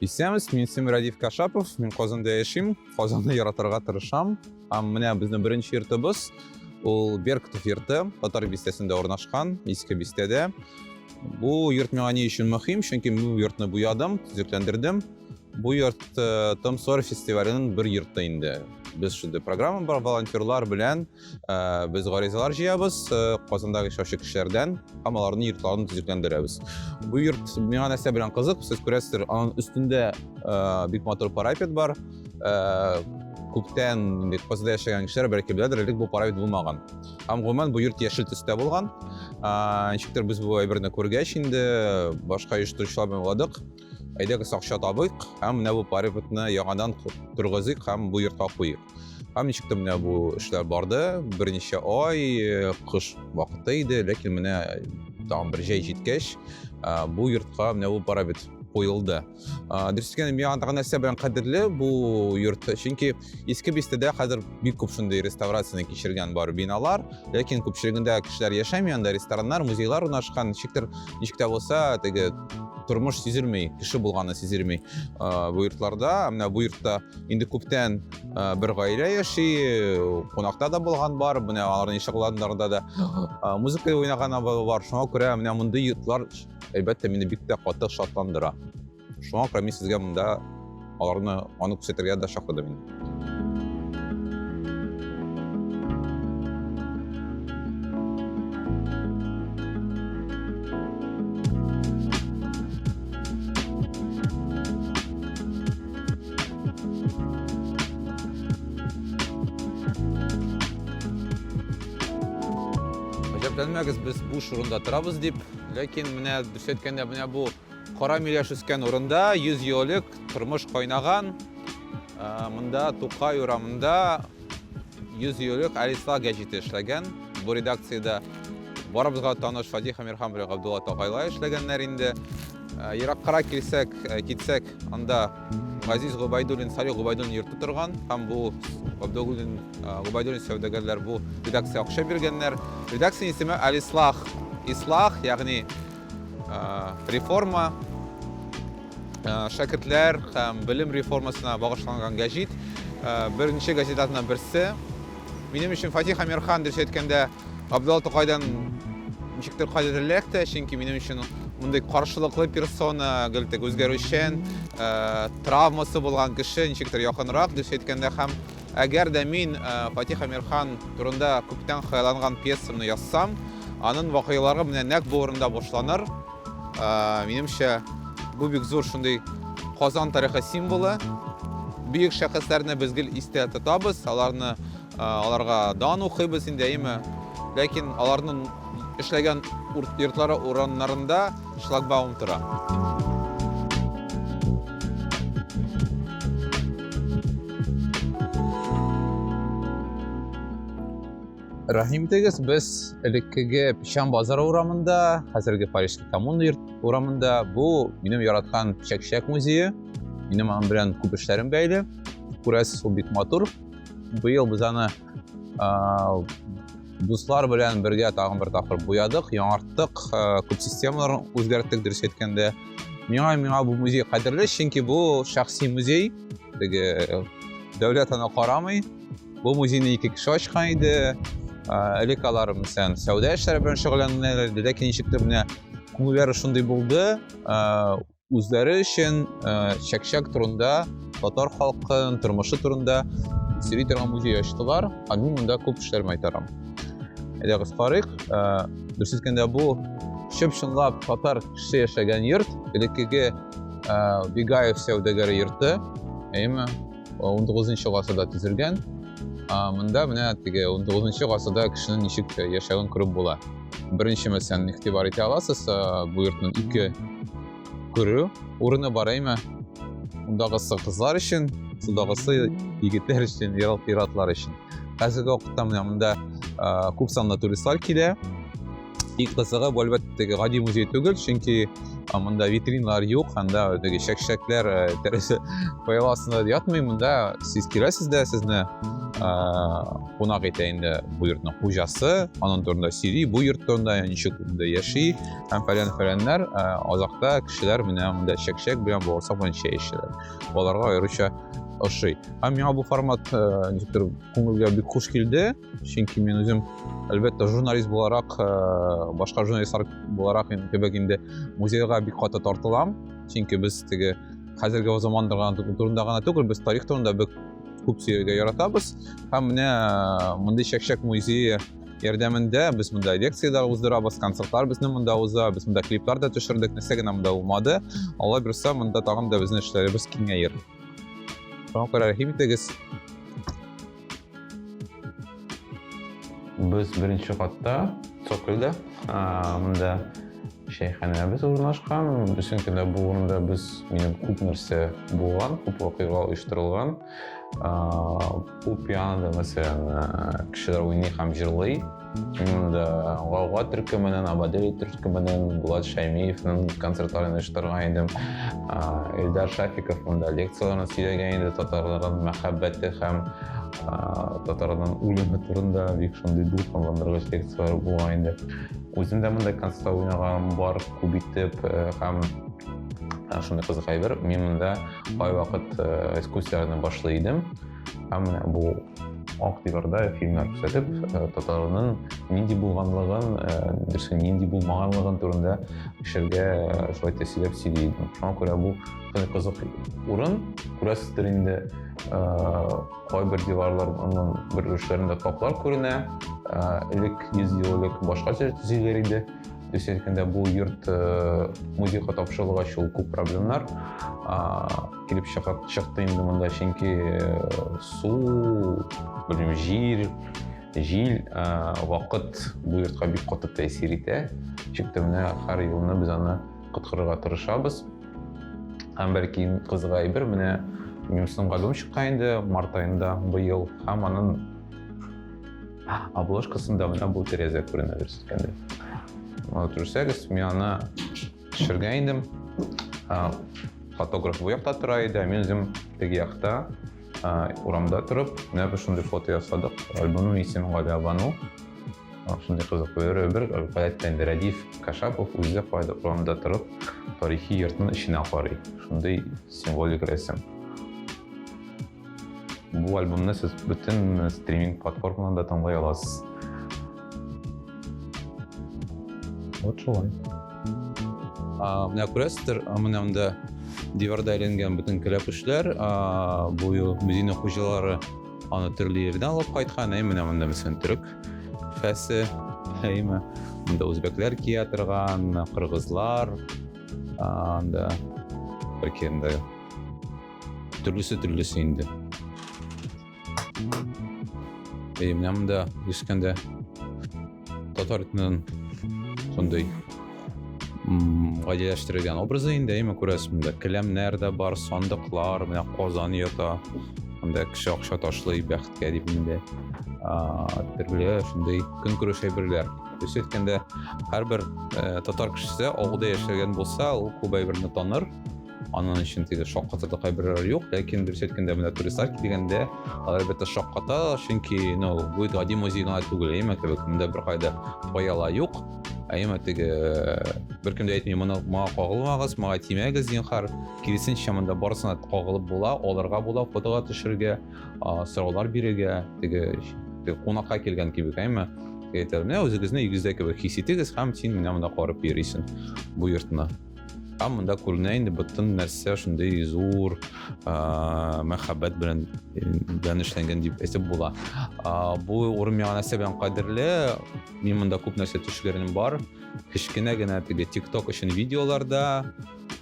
Исәмс, мин Симрадив Кашапов, мин Казанда яшим, Казанны яратырга тырышам. Һәм менә безнең беренче йортыбыз, ул Беркутов йорты, Татар бистәсендә урнашкан, иске бистәдә. Бу йорт миңа ни өчен мөһим? Чөнки мин бу йортны буядым, төзекләндердем. Бу йорт э, Том Сойер фестиваленең бер йорты инде. Без шундый программа бар, волонтерлар белән Э, без гаризалар җыябыз э, казандагы эшләүче кешеләрдән һәм аларның йортларын төзекләндерәбез бу йорт миңа нәрсә белән кызык сез күрәсездер аның өстендә э, бик матур парапет бар күптән бит казанда яшәгән кешеләр бәлки беләдер элек бу парапет булмаган һәм гомумән бу йорт яшел төстә булган ничектер без бу әйберне күргәч инде башка оештыручылар белән уйладык әйдәгез акча табыйк һәм менә бу парапетны яңадан торгызыйк һәм бу йортка куйыйк Һәм ничек тә менә бу эшләр барды, берничә ай, э, кыш вакыты иде, ләкин менә э, тагын бер җәй җиткәч, э, бу йортка менә бу парабит куелды. Дөрес әйткәндә, миңа тагын нәрсә белән кадерле бу йорт, чөнки иске бистәдә хәзер бик күп шундый реставрацияне кичергән бар биналар, ләкин күпчелегендә кешеләр яшәми, анда рестораннар, музейлар урнашкан, ничектер, ничек тә булса, теге тормыш сизелмей, кеше булганы сизелмей бу йортларда. Менә бу йортта Инде күптән бер гаилә яши, кунакта да булган бар, менә аларның ишек аланнарында да музыка уйнаган бар. Шуңа күрә менә мондый йортлар, әлбәттә, мине бик тә каты шатландыра. Шуңа күрә мин сезгә монда аларны аны күрсәтергә дә чакырдым инде. Гаҗәпләнмәгез, без буш урында торабыз дип, ләкин менә дөрес әйткәндә, менә бу кара миләш үскән урында 100 ел элек тормыш кайнаган. Ә, Монда Тукай урамында 100 ел элек Алисла гәҗите эшләгән. Бу редакциядә барыбызга таныш Фатих Әмирхан белән Габдулла Тукайлар эшләгәннәр инде. Ә, Ераккарак килсәк, ә, китсәк, Анда Газиз Губайдуллин, Салих Губайдуллин йорты торган. Һәм бу Габдуллин, Губайдуллин сәүдәгәрләр бу редакция акча биргәннәр. Редакция исеме Алислах. Ислах, ягъни реформа, шәкертләр һәм белем реформасына багышланган гәҗит. Беренче газетаның берсе. Минем өчен Фатих Амирхан дөрес әйткәндә Абдулла Тукайдан ничектер кадерлерәк тә, чөнки минем өчен мондый каршылыклы персона, гел тек үзгәрүчән, э, травмасы булган кеше ничектер якынрак дөрес әйткәндә һәм әгәр дә мин э, Фатих Амирхан турында күптән хыялланган пьесамны язсам, анын вакыйгалары менә нәкъ бу урында башланыр. Минемчә, бу бик зур шундый Казан тарихы символы. Бөек шәхесләрне без гел истә тотабыз, аларны аларга дан укыйбыз инде, әйеме? Ләкин аларның эшләгән йортлары урыннарында шлагбаум тора. Рәхим итегез, без элеккеге Печән базар урамында, хәзерге Парижский коммуна урамында. Бу минем яраткан чәк-чәк музее. Минем аның белән күп эшләрем бәйле. Күрәсез, ул бик матур. Быел без аны дуслар белән бергә тагын бер тапкыр буядык, яңарттык, күп системаларын үзгәрттек, дөрес әйткәндә. Миңа миңа бу музей кадерле, чөнки бу шәхси музей. Теге дәүләт аны карамый, Бу музейны ике кеше ачкан иде. Элек алар мисән сәүдә эшләре белән шөгыльләнәләр иде, ләкин ничектер менә күңелләре шундый булды, үзләре өчен чәкчәк турында, татар халкының тормышы турында сөйли торган музей ачтылар, һәм мин монда күп эшләремә итәрем. Әйдәгез карыйк, дөрес әйткәндә бу чып-чынлап татар кеше яшәгән йорт, элеккеге Бигаев сәүдәгәре йорты, әйеме? 19 гасырда төзелгән. Монда менә теге 19 гасырда кешенең ничек яшәвен күреп була. Беренче мәсәлән игътибар итә аласыз, бу йортның ике күрү урыны бар әйме? Мондагысы кызлар өчен, судагысы егетләр өчен, ир-атлар өчен. Хәзерге вакытта менә монда күп санлы туристлар килә. И кызыгы бу әлбәттә теге гади музей түгел, чөнки монда витринлар юк, анда теге чәкчәкләр тәрәзә пыял астында ятмый, монда сез киләсез дә сезне кунак итә инде бу йортның хуҗасы, аның турында сөйли, бу йорт турында, ничек монда яши һәм фәлән фәләннәр. Азакта кешеләр менә монда чәкчәк белән бавырсак белән чәй эчәләр. Аларга аеруча ошый. Һәм миңа бу формат ничектер күңелгә бик хуш килде. чөнки мин үзем әлбәттә журналист буларак э, башка журналистлар буларак кебек инде музейга бик каты тартылам чөнки без теге хәзерге заман турында гына түгел без тарих турында бик күп сөйләргә яратабыз һәм менә э, мондый чәкчәк музее ярдәмендә без монда лекцияләр уздырабыз концертлар безнең монда уза без монда клиплар да төшердек нәрсә генә монда булмады алла бирса монда тагын да безнең эшләребез киңәер шуңа күрә рәхим итегез Без беренче катта, цокольдә, монда шәйханәбез урнашкан. Бүтән көндә бу урында без минем күп нәрсә булган, күп вакыйга оештырылган. Бу пианода, мәсәлән, кешеләр уйный һәм җырлый. Именно да Гауга төркеменен, Абадели төркеменен, Булат Шәймиевнең концертларын оештырган идем. Эльдар Шафиков монда лекцияләрен сөйләгән иде татарларның мәхәббәте һәм татарларның үлеме турында бик шундый дулкынландыргыч лекцияләр булган инде. Үзем дә монда концертта уйнаган бар күп итеп э, һәм э, шундый кызык әйбер, мин монда кайвакыт э, экскурсияләрне башлый идем. Һәм бу Ак диварда фильмнар күрсәтеп, э, татарның нинди булганлыгын, э, дөресен нинди булмаганлыгын турында кешеләргә э, шулай тәсиләп сөйли идем. Шуңа күрә бу кызык урын, күрәсездер инде, кайбер диварларның бер өлешләрендә каплар күренә, элек 100 ел элек башкача төзиләр иде. Төзелгәндә бу йорт музейга тапшырылгач, ул күп проблемнар килеп чыгып чыкты инде монда чөнки су белмим җир җил вакыт бу йортка бик каты тәэсир итә ничек тә менә һәр елны без аны коткарырга тырышабыз һәм бәлки кызык әйбер менә минем сынга дом чыккан инде март аенда быел һәм аның обложкасында менә бу тәрәзә күренә дөрес әйткәндә аны күрсәгез мин аны Төшергән идем. Фотограф бу якта тора иде, ә мин үзем теге якта урамда торып, менә бер шундый фото ясадык. Альбомның исеме Галя Бану. Шундый кызык бер бер гадәттә инде Рәдиф Кашапов үзе кайда урамда торып, тарихи йортның эченә карый. Шундый символик рәсем. Бу альбомны сез бөтен стриминг платформаларында тыңлай аласыз. Вот шулай. А, менә күрәсездер, менә монда диварда әйләнгән бөтен кәләпүшләр, бу ел Медина хуҗалары аны төрле җирдән алып кайткан, әй менә монда мәсәлән төрек фәсе, әйме, монда үзбәкләр кия торган, кыргызлар, анда бәлки инде Төрлесе төрлесе инде. Әй, менә монда искәндә татар итеннән шундый гадиләштерелгән образы инде, әйме күрәсез монда. Келәмнәр дә бар, сандыклар, менә Казан ята. Монда кеше акча ташлый бәхеткә дип инде. Төрле шундый көнкүреш әйберләр. Үз әйткәндә, һәрбер э, татар кешесе авылда яшәгән булса, ул күп әйберне таныр. Анын өчен теге шаккатырда кайберләре юк, ләкин дөрес әйткәндә менә туристлар килгәндә алар әлбәттә шакката, чөнки ну бу гади музей гына түгел, әйме кебек, монда беркайда паяла юк. Әйме теге беркем дә әйтми, моны моңа кагылмагыз, моңа тимәгез, зинхар. Киресенчә монда барысына кагылып була, алырга була, фотога төшергә, сораулар бирергә, теге кунакка килгән кебек, әйме. Әйтәләр, менә үзегезне өйгездә кебек хис итегез һәм син менә монда карап йөрисең бу йортны. Һәм монда күренә инде бөтен нәрсә шундый зур мәхәббәт белән белән эшләнгән дип әйтеп була. Бу урын миңа нәрсә белән кадерле? Мин монда күп нәрсә төшләрем бар. Кечкенә генә теге TikTok өчен видеолар да,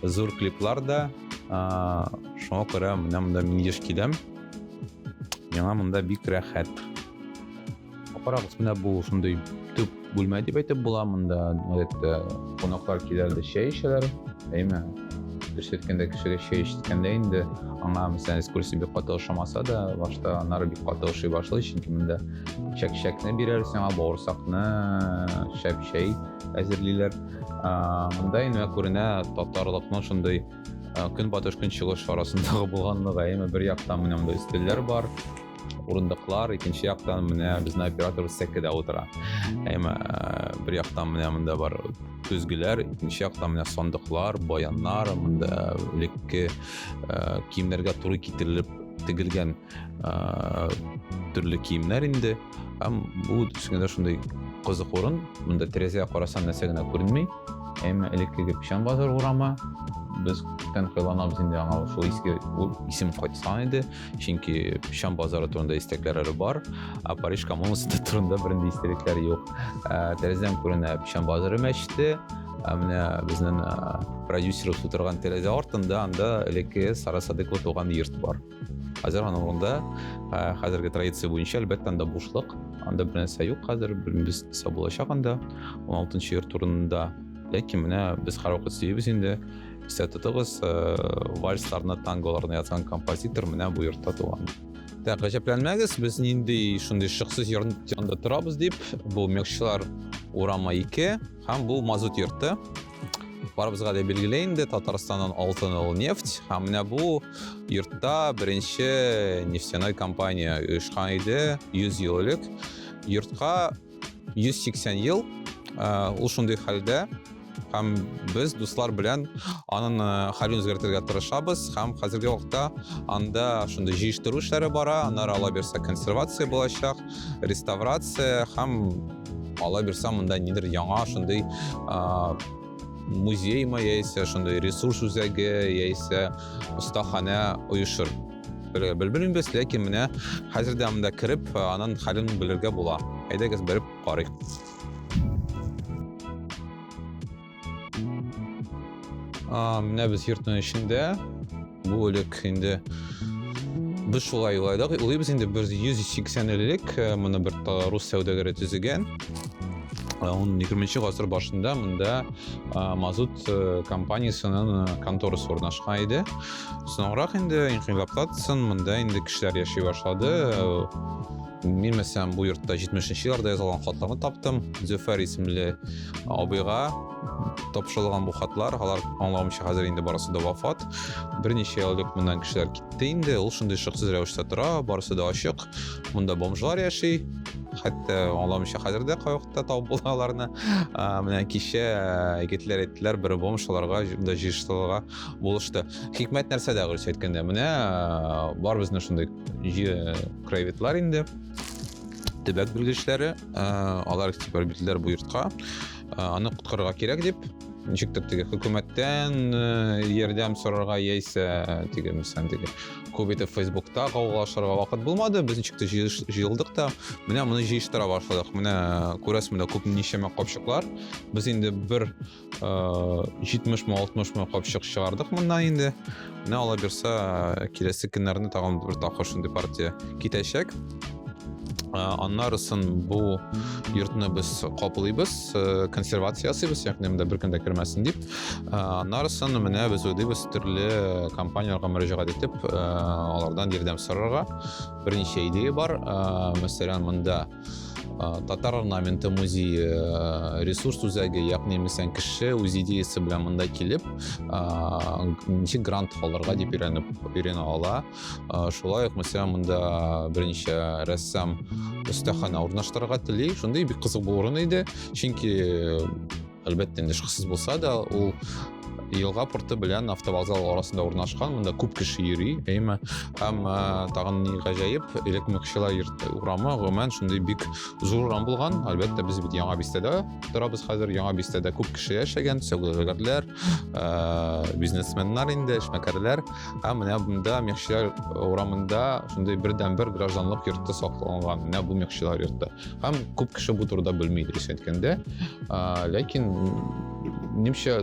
зур клиплар да. Шуңа күрә менә монда мин еш киләм. Миңа монда бик рәхәт. Карагыз, менә бу шундый төп бүлмә дип әйтеп була. Монда гадәттә кунаклар киләләр, чәй эчәләр. Әйме, дөрес әйткәндә, кешегә чәй эчкәндә инде аңа мәсәлән экскурсия бик каты ошамаса да, башта аннары бик каты ошый башлый, чөнки монда чәк-чәкне бирәр сиңа, бавырсакны, шәп чәй әзерлиләр. Монда инде күренә татарлыкның шундый көнбатыш көнчыгыш арасындагы булганлыгы, әйме бер яктан менә монда өстәлләр бар, урындыклар икенче яктан менә безнең оператор сәкедә утыра әйме бер яктан менә монда бар көзгеләр икенче яктан менә сандыклар баяннар монда элекке киемнәргә туры китерелеп тегелгән төрле киемнәр инде һәм бу төшенгәндә шундый кызык урын монда тәрәзәгә карасаң нәрсә генә күренми әйме элеккеге печән базар урамы без күптән кыйланабыз инде аңа шул иске исем кайтса иде чөнки шәм базары турында истәкләр әле бар ә париж коммунасы турында бернинди истәлекләр юк тәрәзәдән күренә шәм базары мәчете ә менә безнең продюсерыбыз утырган тәрәзә артында анда элекке сара садыйкова туган йорт бар хәзер аның урында хәзерге традиция буенча әлбәттә анда бушлык анда бернәрсә юк хәзер белмибез нәрсә булачак анда он алтынчы йорт урынында ләкин менә без һәрвакыт сөйибез инде Исә тотыгыз, вальсларны, танголарны язган композитор менә бу йортта туган. Дә гаҗәпләнмәгез, без нинди шундый шыксыз йортында торабыз дип, бу Мекшилар урамы 2 һәм бу мазут йорты. Барыбызга да билгеле инде Татарстаннан алтын ул нефть. Һәм менә бу йортта беренче нефтяной компания оешкан иде 100 ел элек. Йортка 180 ел ул шундый хәлдә һәм без дуслар белән аның хәлен үзгәртергә тырышабыз һәм хәзерге вакытта анда шундый җыештыру эшләре бара аннары ала бирсә консервация булачак реставрация һәм ала бирсә монда нидер яңа шундый музеймы яисә шундый ресурс үзәге яисә остаханә оешыр Белергә белмибез, ләкин менә хәзер дә монда кереп, аның хәлен белергә була. Әйдәгез берип карыйк. А, менә без йортның эчендә. Бу элек инде без шулай уйладык. Уйлыйбыз инде 180 элек э, моны бер рус сәүдәгәре төзегән. Э, он 20 гасыр башында монда э, мазут компаниясенең конторасы урнашкан иде. Соңрак инде инкыйлаптан соң монда инде кешеләр яши башлады. Мин мәсәлән бу йортта 70-нче елларда язылган хатларны таптым. Зөфәр исемле абыйга тапшырылган бу хатлар, алар аңлавымча хәзер инде барысы да вафат. Берничә ел элек моннан кешеләр китте инде. Ул шундый шыксыз рәвештә тора, барысы да ачык. Монда бомжлар яши. Хәтта аңламыйча хәзер дә кай вакытта табып була аларны. Менә кичә егетләр әйттеләр, бер бомж аларга да җыештыларга булышты хикмәт нәрсәдә дөрес әйткәндә менә бар безнең шундый краеведлар инде төбәк белгечләре алар типа бирделәр бу йортка аны коткарырга кирәк дип ничектер теге хөкүмәттән ярдәм сорарга яисә теге мисән теге күп итеп фейсбукта кавгалашырга вакыт булмады без ничектер җыелдык та менә моны җыештыра башладык менә күрәсең менә күп ничәмә капчыклар без инде бер 70 мы 60 мы капчык чыгардык моннан инде менә ала бирсә киләсе көннәрне тагын бер тапкыр шундый партия китәчәк аннарысын бу йортны без каплыйбыз консервация ясыйбыз ягъни монда беркем дә кермәсен дип аннарысын менә без уйлыйбыз төрле компанияләргә мөрәҗәгать итеп алардан ярдәм сорарга берничә идея бар мәсәлән монда татар орнаменты музей э, ресурс үзәге яғни мәсәлән кеше үз идеясы белән монда килеп ничек грант алырга дип өйрәнеп өйрәнә ала шулай ук мәсәлән монда берничә рәссам остахана урнаштырырга тели шундый бик кызык булыр иде чөнки Әлбәттә, инде шыксыз булса да, ул елга порты белән автовокзал арасында урнашкан монда күп кеше йөри әйме һәм э, тагын ни гаҗәеп элекмекчелар йорты урамы гомумән шундый бик зур урам булган әлбәттә без бит яңа бистәдә торабыз хәзер яңа бистәдә күп кеше яшәгән сәүдәгәрләр э, бизнесменнар инде эшмәкәрләр һәм менә монда мекчелар урамында шундый бердәнбер гражданлык йорты сакланган менә бу мекчелар йорты Һәм күп кеше бу турыда белми дөрес әйткәндә. Ләкин немчә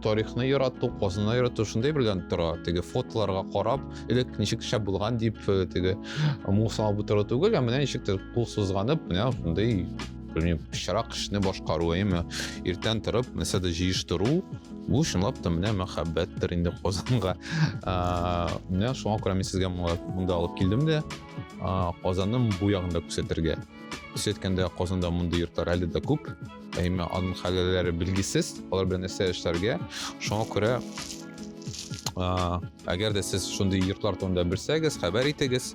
тарихны ярату, казны ярату шундый белән тора. Теге фотоларга карап, элек ничек шәп булган дип э, теге мусал бу туры түгел, ә менә ничек кул сузганып, менә шундый белмим, пычрак эшне башкару, әйме, иртән торып, нәрсә дә җыештыру, бу чынлап та менә мәхәббәттер инде Казанга. Менә шуңа күрә мин сезгә монда алып килдем дә. Казанның бу ягын да күрсәтергә. Төс әйткәндә, Казанда мондый йортлар әле дә күп. Әмма аның хәлләре билгесез, алар белән нәрсә эшләргә. Шуңа күрә әгәр дә сез шундый йортлар турында белсәгез, хәбәр итегез.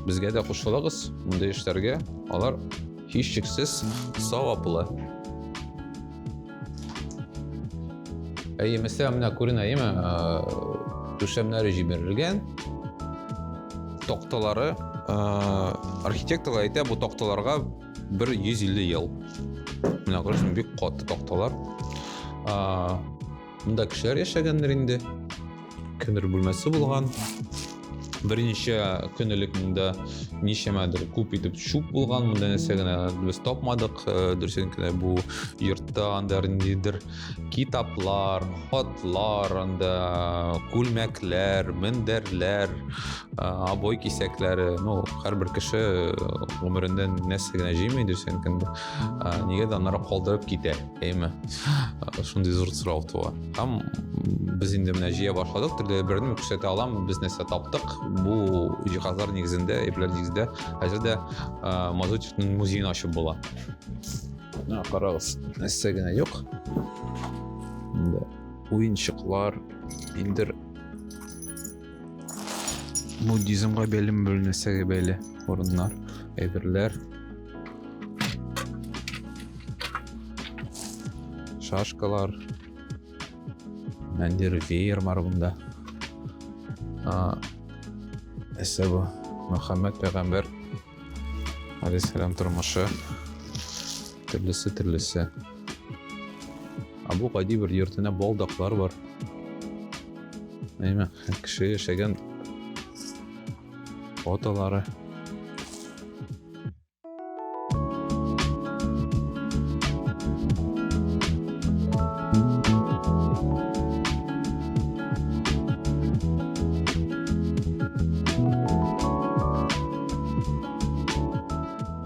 Безгә дә кушылыгыз мондый эшләргә. Алар һичшиксез саваплы. Әйе, мәсәлә, менә күренә, әйеме? Түшәмнәре җибәрелгән. Токталары, архитекторлар әйтә, бу токталарга бер 150 ел. Менә күрәсең, бик каты токталар. Монда кешеләр яшәгәндер инде. Көнер бүлмәсе булган. Берничә көн элек монда ничәмәдер күп итеп шуп булган, монда нәрсә генә без тапмадык. Э, Дөресен генә бу йортта анда ниндидер китаплар, хатлар, анда күлмәкләр, мендәрләр, э, обой кисәкләре, ну, һәрбер кеше гомерендә э, нәрсә генә җыймый дөресен генә. Нигә дә аннары калдырып китә, әйме? Шундый зур сорау туа. Там без инде менә җыя башладык, төрле берне күрсәтә алам, без нәрсә таптык. Бу җиһазлар нигезендә, әйберләр нигезендә хәзер дә Мазутевның музеен ачып була. Менә карагыз, нәрсә генә юк. Инде уенчыклар, индер буддизмга бәйле бер нәрсәгә бәйле урыннар әйберләр шашкалар нәндер веер бар бунда әсәбу мөхәммәд пәйгамбәр Алисхерам тормышы төрлесе төрлесе. Абу гади бер йортына балдаклар бар. Әйме, кеше яшәгән фотолары.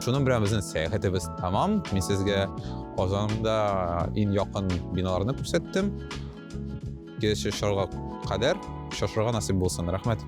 Шуның белән безнең сәяхәтебез тәмам. Мин сезгә Казанда иң якын биналарны күрсәттем. Киләсе шарга кадәр шашырга насыйп булсын. Рәхмәт.